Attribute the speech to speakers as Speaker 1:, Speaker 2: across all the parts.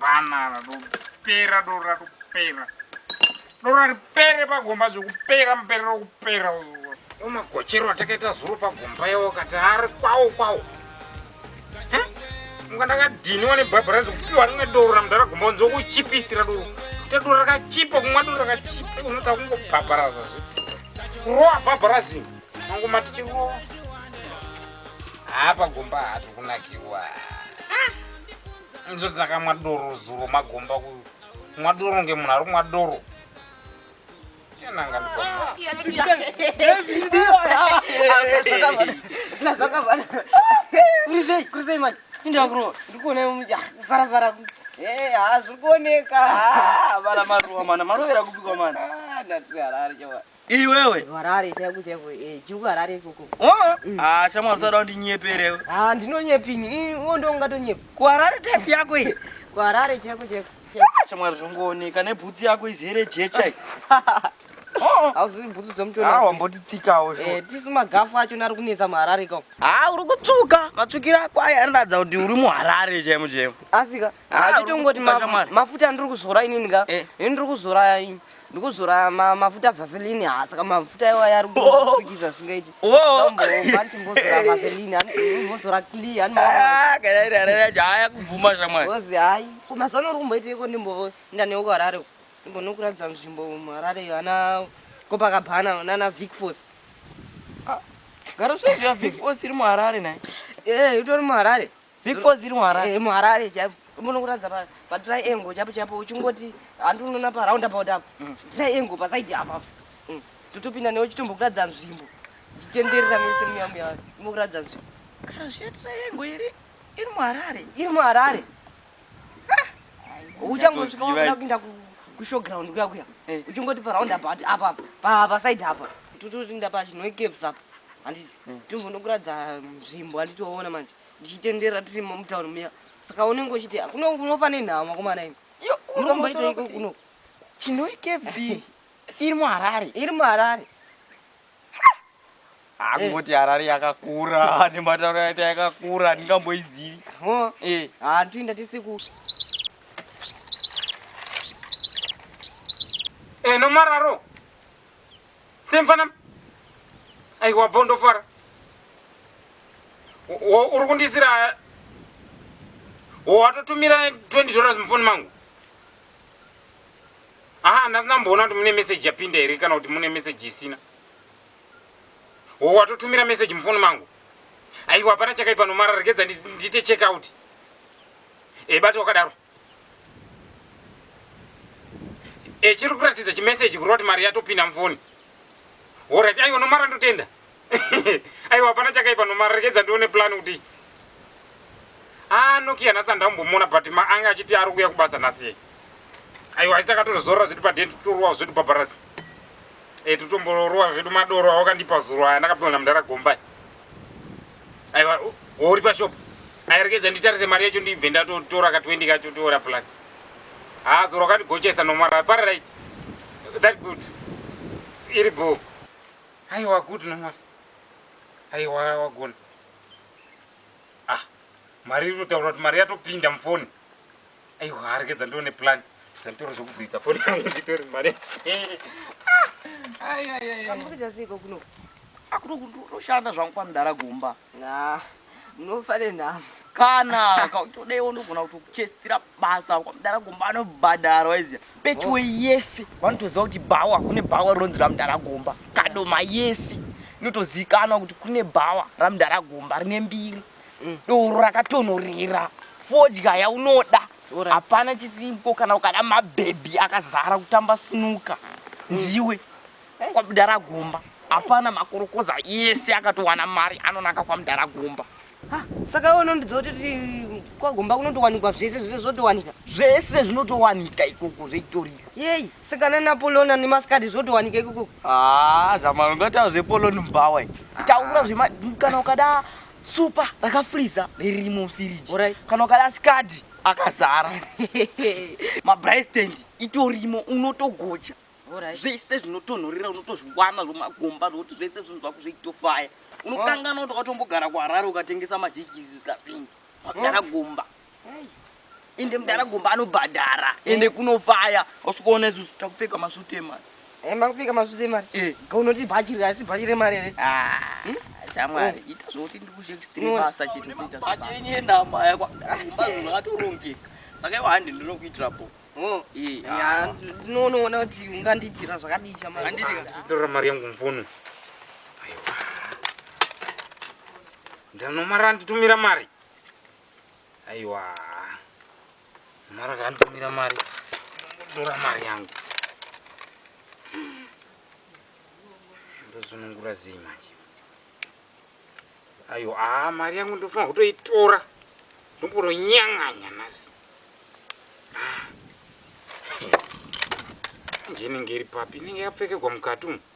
Speaker 1: banana dopera dora dopera dora ripere pagomba zvekupera mupere rokupera umagochero atakaita zuro pagomba yawo kati ari kwawo kwawo unga ndakadhiniwa nebhabhara zvekupiwa rimwe doro ramudhara gomba unzi wokuchipisira doro kuita doro rakachipa kumwa doro rakachipa unoti akungobhabharaza zve kurowa bhabharazi mangomati chirowa haa pagomba haa tiri kunakirwa ndizoti ndakamwa doro zuro magomba ku mwa doro ngemunhu ari kumwa doro
Speaker 2: kurisei manje indakurowa ndikuona farafara eh, hazvikuoneka ah, vana
Speaker 3: maruwa mana marovera kupikwa mana ah, ndatiharari
Speaker 2: choa Iwewe. Harare
Speaker 3: chaiko chaiko
Speaker 2: eh juu harare ikoko. Oh. Mm. Ah shamwari
Speaker 3: usada kundinyeperewe. Ah ndinonyepi
Speaker 2: ini uwo ndo ungatonyepa. Ku harare type yako
Speaker 3: iyi. Ku harare chaiko
Speaker 2: chaiko. Ah shamwari
Speaker 3: zvongooneka nebhutsi yako izere jecha iyi. Oh.
Speaker 2: Hauzivi bhutsu dzomutona. Ah wambotitsikawo zvo. Eh
Speaker 3: tisu magafu
Speaker 2: acho nari kunetsa muharare ikoko. Ah uri kutsvuka.
Speaker 3: Matsvukira ako aya anoratidza kuti uri muharare chaimo chaimo. Asika.
Speaker 2: achitongoti mafuta andiri kuzora inini ka eh. ini ndiri kuzora ini ndikuzora mafuta vaseline ha saka mafuta iwa yari kutukisa oh. singaiti ombanti oh. mbozora vaseline mbozora clear
Speaker 3: haya kubvuma shamwari ozi hayi kumazuva
Speaker 2: nori kumboiteiko ndimboinda newe kuharare ndimbonokuratidza nzvimbo muharare ana kopakabhana nana vic force ah.
Speaker 3: gara zvaizviya vic force iri muharare naye ee eh, itori
Speaker 2: muharare Big Four ziri
Speaker 3: muHarare. Eh, muHarare chaipo.
Speaker 2: Munokuratidza pa pa triangle chaipo chaipo uchingoti handi unoona pa round about apa. Mm. Triangle pa side apa. Mm. Totopinda newe chitombokuratidza nzvimbo. Titenderera mese muya muya. Mukuratidza nzvimbo. Kana zviya
Speaker 3: triangle iri iri muHarare. Iri muHarare.
Speaker 2: Ah. Uchangosvika wakuda kupinda ku ku showground kuya kuya. Eh. Uchingoti pa round about apa pa pa side apa. Tototinda pa chinoikeves apa. Handiti. Mm. Tumbonokuratidza nzvimbo handiti waona manje. ndichitenderera tiri mutown muya saka unenge uchiti kuno unofa nenhamo makomana ini iyo unombaita iko kuno chinoi kfc
Speaker 3: iri muharare iri muharare akungoti harare yakakura nematauro yaita yakakura ndingamboizivi eh. ah,
Speaker 2: toenda tese ku
Speaker 1: eno eh, mararo Same fana. Aiwa bondo fara. Uri kundisira watotumira 20 dollars mufoni mangu aha handasi ndamboona kuti mune meseji yapinda here kana kuti mune meseji isina watotumira meseji mufoni mangu aiwa hapana chakaipa nomara regedza ndite check out ebati wakadaro echiri eh, kuratidza chimeseji kureva kuti mari yatopinda mufoni orit aiwa nomara ndotenda aiwa hapana chakaipa nomara rekedza ndione plan kuti anokia ah, nhasi andambomona but ma ange achiti ari kuuya kubasa nhasi aiwa asi takatozorora zvedu paden totorowa zvedu pabarasi e eh, totomborowa zvedu madoro awakandipa zuro aya ndakapiwa namdara gombai aiwa uri pashop ayerekedza nditarise mari yacho ndibve ndatotora ka 20 kacho toora plan haa zoro kandigochesa nomara pari right that good iri bho aiwa good nomara aiwa wagona ah mari iri kutaura kuti mari yatopinda mufoni aiwa aregedza ndione plan dzanditori zvekuvhurisa foni yangu nditori mari
Speaker 2: amurikuita seiko kuno akutoshanda
Speaker 3: zvangu kwamudara gomba munofa
Speaker 2: nenhamo kana
Speaker 3: todai wonogona kutochestira basa kwamudara gomba anobhadhara waiziva pechiwe yese vanotoziva kuti bhawa kune bhawa rinonzi ramudara gomba kadoma yese inotozivikanwa kuti kune bhawa ramudara gomba rine mbiri mm. doro rakatonhorera fodya yaunoda hapana right. chisimko kana ukada mabhebhi akazara kutamba sinuka mm. ndiwe eh. kwamdara gomba hapana makorokoza yese akatowana mari anonaka kwamdara gomba ah, saka
Speaker 2: iwe unondidza kuti kwagomba kunotowanikwa zvese zvese zvotowanika zvese
Speaker 3: zvinotowanika ikoko zveitorika yei sikana
Speaker 2: napolona nemaskadi zvotowanika ikoko haa ah, zamaro
Speaker 3: ngataura zvepoloni mbawa taura zvema kana ukada supa rakafriza ririmo mfiriji right. kana ukada
Speaker 2: skadi
Speaker 3: akazara mabraistand itorimo unotogocha right. zvese
Speaker 2: zvinotonhorera
Speaker 3: unotozviwana zvomagomba zvokuti zvese zvinhu zvako zveitofaya unokanganwa kuti wakatombogara kuharare ukatengesa majikisi zvikafingi wakagara gomba ende mudhara gomba anobhadhara ende kunofaya usikuona isusu takupfeka masvuti emari enda kupfeka masvuti
Speaker 2: emari eh. unoti bhachi asi bhachi remari here ah, hmm? shamwari
Speaker 3: oh. ita zvokuti ndikushekstrebasa chitaatorongeka saka iwo handi ndinokuitira po oh. eh, ah. ndinonoona
Speaker 2: kuti ungandiitira zvakadii chamaitora mari yangu
Speaker 1: mvuno ndanomara nditumira mari Aiwa. Mara kantumira mari. Ndora mari yangu. Ndozunungura zii manje. Ayo, ah, mari yangu ndofanira kutoitora. Ndomboro nyanganya nasi. Ah. Nje inenge iri papi? Inenge yapfekegwa mukati umu.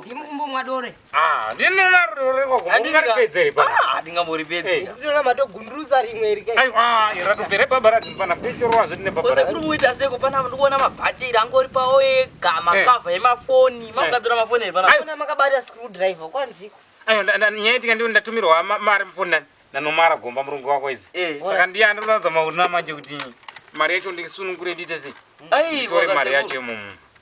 Speaker 1: Ndimu kumbomwa
Speaker 2: dore. Ah, ndinona
Speaker 1: dore kwa kumbomwa ripedzere pa. Ah, ndingambori pedze. Eh.
Speaker 3: Ndinona mato
Speaker 2: gunduruza rimwe rike. Ayo, ah, irato pere baba
Speaker 1: rati pana pechoro wazve ndine baba. Kose kuri muita seko pana
Speaker 3: ndikuona mabattery angori pa oye gama eh. cover yemafoni. Eh. Makugadzira mafoni ere pana. Ayo, makabata
Speaker 2: screwdriver kwanziko. Ayo, nyaya itika
Speaker 1: ndiwe ndatumirwa mari mufoni nani. Nanomara gomba murungu wako izi. Saka ndiye andonoza maurina manje kuti mari yacho ndikisunungure ndite sei. Ayi, mari yacho mumu.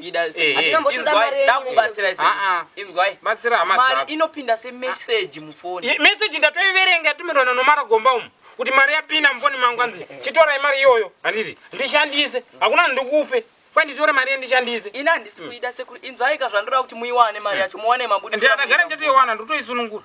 Speaker 1: Ida
Speaker 3: Eh, eh. Hatina mbotoda inzwai mari yenyu.
Speaker 2: ndakubatsira ise. Ah, ah.
Speaker 3: Inzwai. Batsira hama Mari dzako.
Speaker 1: inopinda se
Speaker 3: message mufoni. Ye- message ndatoiverenga
Speaker 1: yatumirwa nanomara gomba umu kuti mari yapinda mufoni mangu anzi chitorai mari iyoyo handiti ndishandise hakuna ndikupe kwai nditore mari yendishandise Ina handisi kuida
Speaker 3: sekuru. Inzwai ka zvandoda kuti muiwane mari yacho muwane mabudo. ndiyatagara ndatoiwana
Speaker 1: ndotoisunungura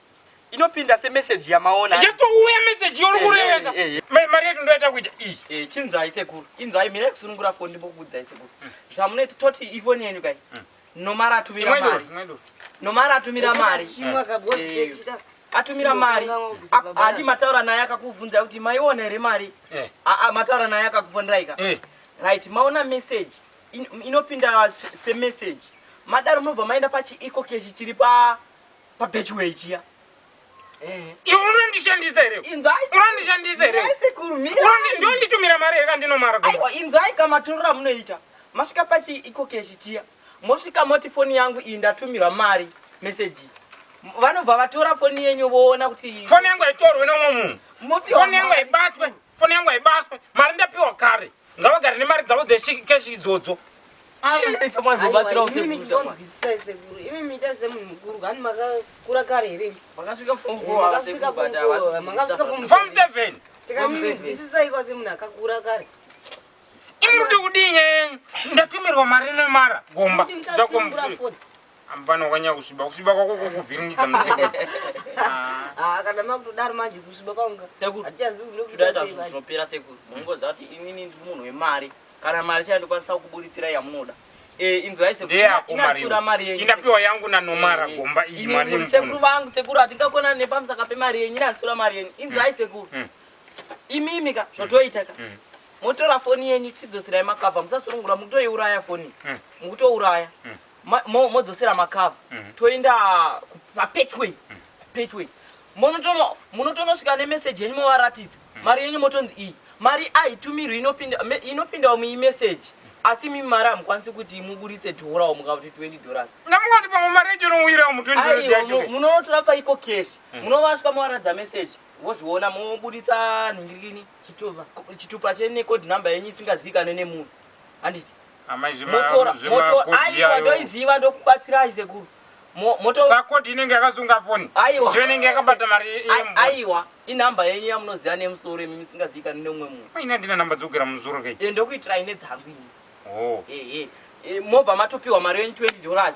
Speaker 3: inopinda se message yamaona yatouya message
Speaker 1: yori eh, kurevesa eh, eh, mari yacho ndoita kuita iyi chinzvai sekuru
Speaker 3: inzvai mira kusunungura foni ndimbokubudzai sekuru hmm. zvamunoita toti ifoni yenyu kai hmm. nomara atumira mari nomara atumira mari atumira mari hadi mataura naye akakubvunza kuti maiona here mari aa mataura naye akakubvunzaika right maona message inopinda semessage madaro munobva maenda pachiiko kechi chiri pa pabetchway chiya
Speaker 1: eh. iwe unondishandisa here unondishandisa here ndonditumira mari here kandinomara aiwa inzwai kamatorero
Speaker 3: amunoita masvika pachi iko keshi chiya mosvika moti foni yangu iyi ndatumirwa mari meseji vanobva vatora foni yenyu voona kuti foni yangu haitorwe nomwe
Speaker 1: munhu foni yangu haibatwe mm. foni yangu haibatwe mari ndapiwa kare ngavagare nemari dzavo dzeshekeshi idzodzo
Speaker 2: imi mita semunhu mukuru kani makakura kare here
Speaker 3: makasvika
Speaker 2: fom seven tikaminzwisisai kwase munhu akakura kare imi
Speaker 1: kuti kudinye ndatumirwa mari nemara gomba dzakomukuru Ampana ukanyanya kusviba kusviba kwako kukuvhiringidza muzvimbo.
Speaker 2: Ah, kana makutodaro manje kusviba kwanga. Sekuru. Hatichazivi kuti Toda ndokuita
Speaker 3: sei zvinhu manje. zvinopera sekuru. Munongoziva kuti inini ndiri munhu wemari. Kana mari chaiyo ndikwanisa kukuburitsira yamunoda. Eh inzwai sekuru. Ndeyako mari. Inatsiura mari yenyu. Indapiwa yangu nanomara
Speaker 1: Eh, eh. gomba iyi Imi mari muri sekuru yemupona. vangu sekuru
Speaker 3: hatingakonani nepamusaka pemari yenyu inatsiura mari yenyu. Inzwai sekuru. Mm. Imimi ka zvotoita ka. Mm. Motora foni yenyu tidzosirai makabva musasurungura mukutoiuraya foni. Mm. Mukutouraya. Mm. modzosera makava mhm. toenda papetway mhm. petway munotonosvika nemeseji yenyu movaratidza mhm. mari yenyu motonzi iyi mari aitumirwi inopindawo muimeseji asi mimi mari hamukwanisi kuti muburitse dhorawo mukakuti 20 dollars ndamukati pamwe mari
Speaker 1: yacho inowirawo mu 20 dollars yacho munotora paiko
Speaker 3: cash munovasvika movaratidza meseji vozviona moburitsa nhingirini chitupa chenecode number yenyu isingazivikanwe nemunhu handiti aiwa ndoiziva ndokubatsirai sekuru motosakoti
Speaker 1: inenge yakasunga foni aiwa ndiyo inenge yakabata mari aiwa
Speaker 3: inhamba yenyu yamunoziva nemusoro imi misingaziikani neumwe munhu ine ndina nhamba dzokugera
Speaker 1: mumusoro kei e, ndokuitirai nedzangu
Speaker 3: ini oh. ehe e, mobva matopiwa mari yenyu 20 dollars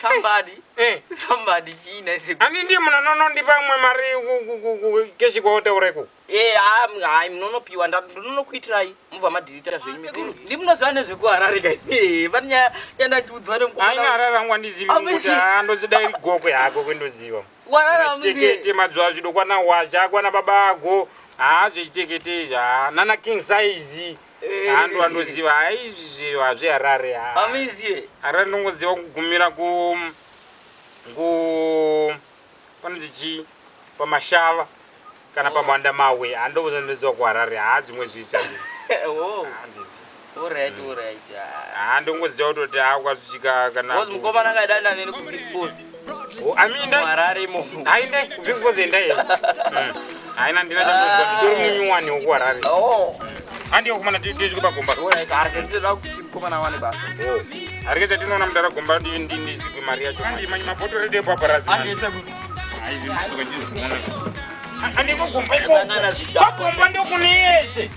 Speaker 1: Somebody. Eh.
Speaker 3: Somebody china ise. Ani ndiye munanono
Speaker 1: ndipa umwe mari keshi kwautaureko. Eh, ah, hayi
Speaker 3: munonopiwa ndinonokuitirai mubva madirita zvenyu mizuru. Ndi munoziva nezvekuharare kai. Eh, pane nyaya yandachiudzwa nemukoma. Haina harare rangu
Speaker 1: andizivi kuti andochida iri gokwe hako kwendoziva. Warara muzi. Tekete mazuva azvido kwana washa kwana baba ako. Ah, zvechitekete izvi. Ah, nana king size. Handu andoziva hayi izvi hazvi Harare. Amizie. Harare ndongoziva kugumira ku ku panonzi chii pamashava kana oh. pamanda mawe handobuza ndoziva kuharare haa dzimwe zvisi oh. handongoziva kutoti haa ukazvichika kana mukomana
Speaker 3: akadananeni kubifosi Aminda. Harare mo.
Speaker 1: Hainde ndingozi enda here. Haina ndina chakuziva nditori munyuwani woku Harare. Oh. Handi yokumana tichiko pagomba. Alright, harare ndinoda kuti mukomana wane basa. Oh. Harare chatinoona mudara gomba ndiyo ndinizigwe mari yacho. Handi manyi mapoto redu epo aparasi. Handi yese kuti. Haizi ndikuka ndizigwe mwana. Handi kogomba ikoko. Kogomba ndokuneyese.